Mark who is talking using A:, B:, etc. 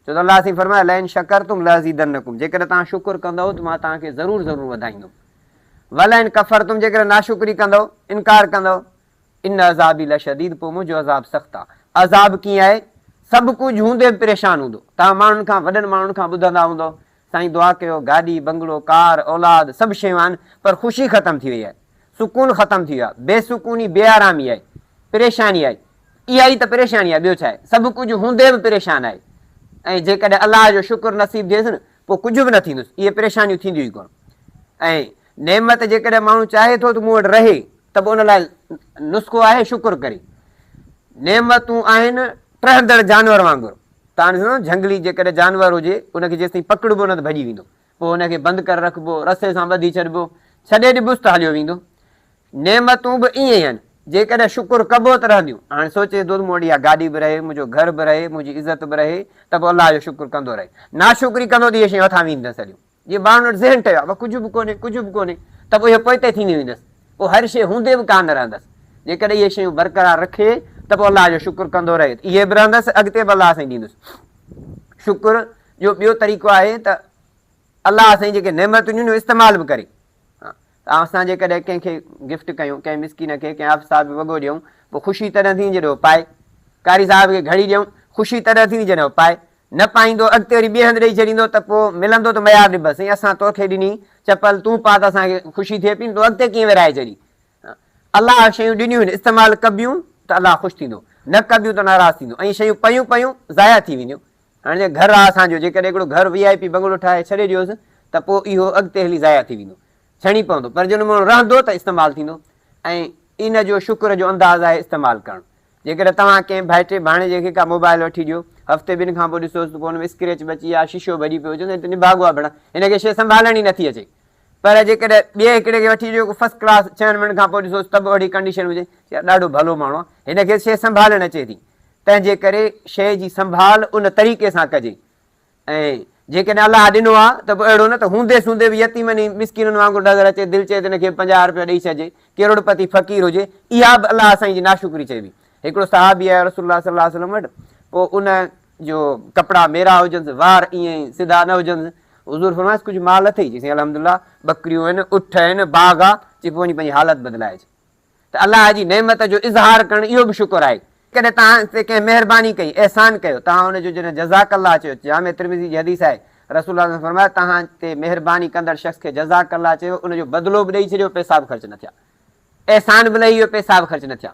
A: ڇو ته الله سائين فرمايو لئن شڪرتم لازيدنڪم جيڪڏهن توهان شڪر ڪندؤ ته مان توهان کي ضرور ضرور وڌائيندم ولئن ڪفرتم جيڪڏهن ناشڪري ڪندؤ انڪار ڪندؤ ان عذابي لشديد پوء منهنجو عذاب سخت آ عذاب ڪيئن آهي سڀ ڪجهه هوندي به پريشان هوندو توهان ماڻهن کان وڏن ماڻهن کان ٻڌندا هوندؤ سائين دعا ڪيو گاڏي، بنگلو، ڪار، اولاد سڀ شيون آهن پر خوشي ختم ٿي وئي آهي، سڪون ختم ٿي ويو آهي، بي سڪوني، بي آرامي آهي، پريشاني آهي، اها ئي ته پريشاني آهي ٻيو ڇا آهي، سڀ ڪجهه هوندي به پريشان آهي ۽ جيڪڏهن الله جو شڪر نصيب ٿئيس نه پوء ڪجهه به نه ٿيندس، اهي پريشانيون ٿينديون ئي ڪونه ۽ نعمت جيڪڏهن ماڻهو چاهي ٿو ته مون وٽ رهي ته به ان لاء نسخو آهي شڪر ڪري نعمتون آهن ٽهندڙ جانور وانگر تان هيڻو جهنگلي جيڪڏهن جانور هجي ان کي جيستائين پڪڙبو نه ته ڀڄي ويندو پوء ان کي بند ڪري رکبو رسي سان ٻڌي ڇڏبو ڇڏي ڏبوس ته هليو ويندو نعمتون به ائين ئي آهن جيڪڏهن شڪر ڪبو ته رهنديون هاڻي سوچي ڏسو مون وٽ اها گاڏي به رهي منهنجو گهر به رهي منهنجي عزت به رهي ته به الله جو شڪر ڪندو رهي ناشڪري ڪندو ته اهي شيون هٿان وينديون سڄيون. جي ٻانهن وٽ ذهن ٺهيو آهي، بس ڪجهه به ڪونهي، ڪجهه به ڪونهي، ته پوء اهو پوئتي ٿيندي ويندس، پوء هر شيء هوندي به ڪانه رهندس، جيڪڏهن اهي شيون برقرار رکي ته پوء الله جو شڪر ڪندو رهي ته اهي به رهندس، اڳتي به الله سائين ڏيندس. شڪر جو ٻيو طريقو آهي ته الله سائين جيڪي نعمتون ڏنيون آهن، استعمال به ڪري. ته اسان جيڪڏهن ڪنهن کي گفٽ ڪيون، ڪنهن مسڪين کي، ڪنهن حافظ صاحب کي وڳو ڏيون، پوء خوشي تڏهن ٿيندي جڏهن هو پائي. قاري صاحب کي گهڙي ڏيون، خوشي تڏهن ٿيندي جڏهن هو پائي. نه پائيندو، اڳتي وري ٻئي هنڌ ڏيئي ڇڏيندو ته پوء ملندو ته ميار ڏبس، سائين اسان تو کي ڏني چپل، تون پاء ته اسان کي خوشي ٿئي پئي نه، تون اڳتي ڪيئن ورهائي ڇڏي. الله شيون ڏنيون آهن، استعمال ڪبيون ته الله خوش ٿيندو، نه ڪبيون ته ناراض ٿيندو ۽ شيون پيون پيون ضايع ٿي وينديون. هاڻي جيئن گهر آ اسان جو، جيڪڏهن هڪڙو گهر وي آء پي بنگلو ٺاهي ڇڏي ڏيوس ته پوء اهو اڳتي هلي ضايع ٿي ويندو، ڇڻي پوندو، پر جن ماڻهو رهندو ته استعمال ٿيندو ۽ ان جو شڪر جو انداز آهي استعمال ڪرڻ. جيڪڏهن توهان ڪنهن ڀائٽي ڀاڻيجي کي ڪا موبائل وٺي ڏيو، هفتي ٻن کان پوء ڏسوس ته پوء ان ۾ اسڪريچ به اچي ويا، شيشو به اڏي پيو، چوندو هي ته نڀاڳو آ ڀيڻا، هن کي شيء سنڀالڻ ئي نٿي اچي. پر جيڪڏهن ٻئي هڪڙي کي وٺي جيڪو فرسٽ ڪلاس ڇهن منٽن کان پوء ڏسوس ته به اهڙي ڪنڊيشن هجي يا ڏاڍو ڀلو ماڻهو آهي هن کيس شيء سنڀالڻ اچي ٿي تنهنجي ڪري شيء جي سنڀال ان طريقي سان ڪجي ۽ جيڪڏهن الله ڏنو آهي ته به اهڙو نه ته هوندي سوندي به يتيمن ۽ مسڪينن وانگر نظر اچي دل چئي ته هن کي به پنجاهه روپيا ڏئي ڇڏجي ڪروڙپتي فقير هجي اها به الله سائين جي ناشڪري چئبي هڪڙو صحابي آيو رسول الله صلي الله عليه وسلم وٽ پوء ان جو ڪپڙا ميرا هجنس، وار ائين ئي سڌا نه هجنس. حضور فرمايس ڪجهه مال اٿئي؟ چيسين الحمد الله ٻڪريون آهن، اٺ آهن، باغ آ. چي پوء وڃي پنهنجي حالت بدلائي اچ. ته الله جي نعمت جو اظهار ڪرڻ اهو به شڪر آهي. ڪڏهن توهان تي ڪنهن مهرباني ڪئي، احسان ڪيو، توهان ان جو جڏهن جزاڪ الله چيو، جامع ترمذي جي حديث آهي، رسول الله صلي الله عليه وسلم فرمايو، توهان تي مهرباني ڪندڙ شخص کي جزاڪ الله چيو، ان جو بدلو به ڏئي ڇڏيو، پئسا به خرچ نه ٿيا. احسان به لهي ويو، پئسا به خرچ نه ٿيا.